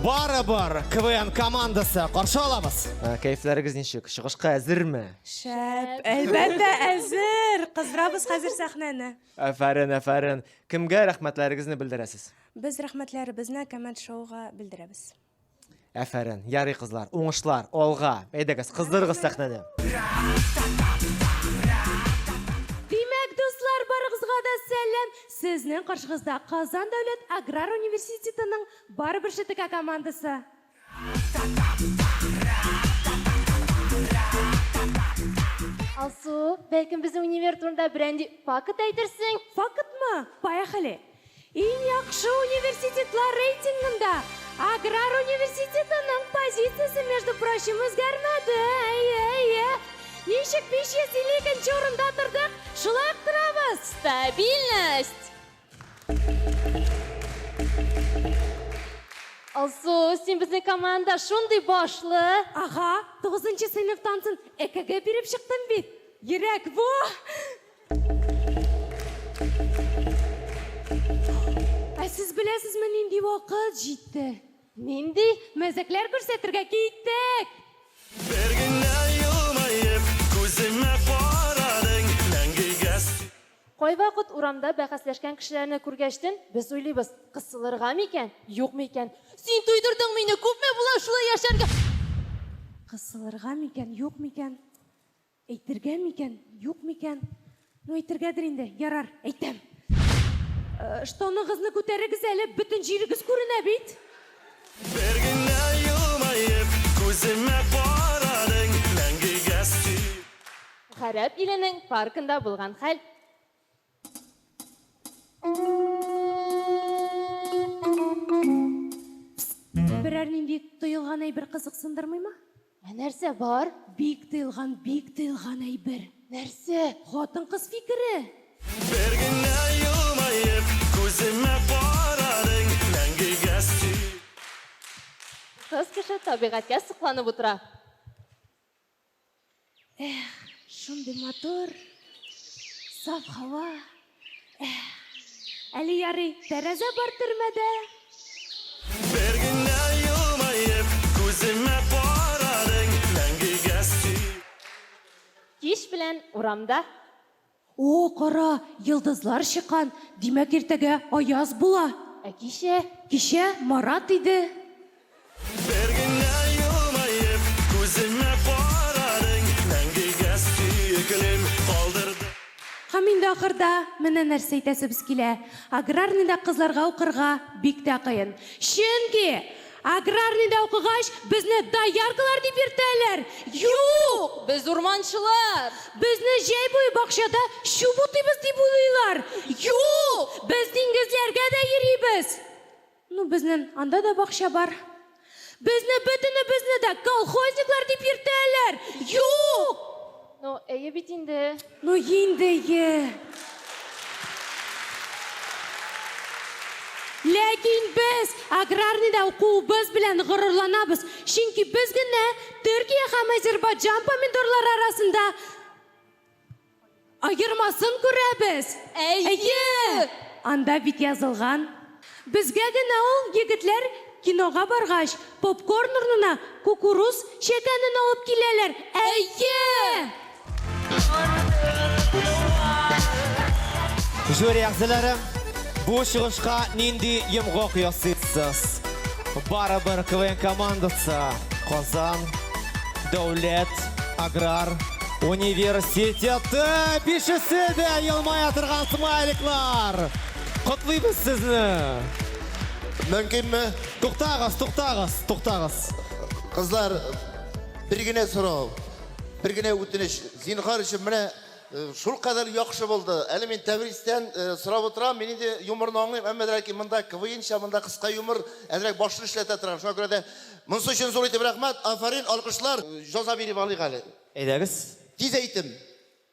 Барыбер КВН командасы каршы алабыз. Ә, Кәефләрегез ничек? Чыгышка әзерме? Шәп, әлбәттә әзер. Кыздырабыз хәзер сәхнәне. Афәрин, афәрин. Кемгә рәхмәтләрегезне белдерәсез? Без рәхмәтләребезне коммент шоуга белдерәбез. Әфәрен. Ярый кызлар, уңышлар, алга. Әйдәгез, кыздырыгыз сәхнәне. Димәк, дуслар, барыгызга да сәлам. Сезнең каршыгызда Казан дәүләт аграр университетының Барыбер ШТК командасы. Алсу, бәлкем безнең универ турында берәнди факт әйтерсең? Фактмы? Поехали! Иң яхшы университетлар рейтингында Аграр университетының позициясе, между прочим, үзгәрмәде. Әйе, әйе. Ничек 552 урында тордык, шулай ук торабыз. Стабильность! Алсу, син безнең команда шундый башлы. Ага, тугызынчы сыйныфтан соң ЭКГ биреп чыктым бит. Йөрәк бу! Ә сез беләсезме, нинди вакыт җитте? Нинди мәзәкләр күрсәтергә киттек! Бер генә елмаеп, күземә карадың, мәңгегә Кайвакыт урамда бәхәсләшкән кешеләрне күргәчтен, без уйлыйбыз, кысылырга микән, юкмы икән? Син туйдырдың мине, күпме була шулай яшәргә? Кысылырга микән, юкмы икән? Әйтергә микән, юк микән? Ну, әйтергәдер инде. Ярар, әйтәм. Э, штаныгызны күтәрегез әле, бөтен җирегез күренә бит. Бер генә елмаеп, күземә карадың, мәңгегә син. Гарәп иленең паркында булган хәл. Берәр нинди тыелган әйбер кызыксындырмыймы? Ә нәрсә бар? Бик тыелган, бик тыелган әйбер. Нәрсә? Хатын-кыз фикере! Бер генә елмаеп, күземә карадың, мәңгегә сөй. Кыз кеше табигатькә сокланып утыра. Эх, шундый матур, саф һава. Эх, әле ярый, тәрәзә бар төрмәдә. Бер генә елмаеп, күземә карадың, мәңгегә сөй. Кич белән урамда. О, кара, йолдызлар чыккан, димәк, иртәгә аяз була. Ә кичә? Кичә Марат иде. Бер генә елмаеп, күземә карадың, мәңгегә сөеклем калдырдың. Һәм инде ахырда менә нәрсә әйтәсебез килә, аграрныйда кызларга укырга бик тә кыен. Чөнки! Аграрныйда укыгач, безне дояркалар дип йөртәләр? Юк! Без урманчылар! Безне җәй буе бакчада чүп утыйбыз дип уйлыйлар? Юк! Без диңгезләргә дә йөрибез! Ну, безнен анда да бакча бар. Безне бөтенебезне дә колхозниклар дип йөртәләр? Юк! Ну, әйе бит инде. Ну, инде ие. Ләкин без аграрныйда укуыбыз белән горурланабыз, чөнки без генә Төркия һәм Азербайджан помидорлары арасында аермасын күрәбез. Әйе! Анда бит язылган. Безгә генә ул егетләр кинога баргач, попкорн урнына кукуруз чәкәнен алып киләләр, әйе! Жюри әгъзалары, бу чыгышка нинди йомгак ясыйсыз? Барыбер КВН командасы Казан дәүләт аграр университеты! Бишесе дә елмая торган смайликлар! Котлыйбыз сезне! Мөмкинме? Туктагыз, туктагыз, туктагыз. Кызлар, бер генә сорау, бер генә үтенеч. Зинхар өчен менә э, шул кадәр яхшы булды. Әле мин Тәбристән э, сорап утырам, мин инде юморны аңлыйм, әмма ләкин монда КВНча, монда кыска юмор, әзрәк башны эшләтә торган. Шуңа күрә дә монысы өчен зур итеп рәхмәт, афәрин, алкышлар, җаза биреп алыйк әле. Әйдәгез. Тиз әйтем.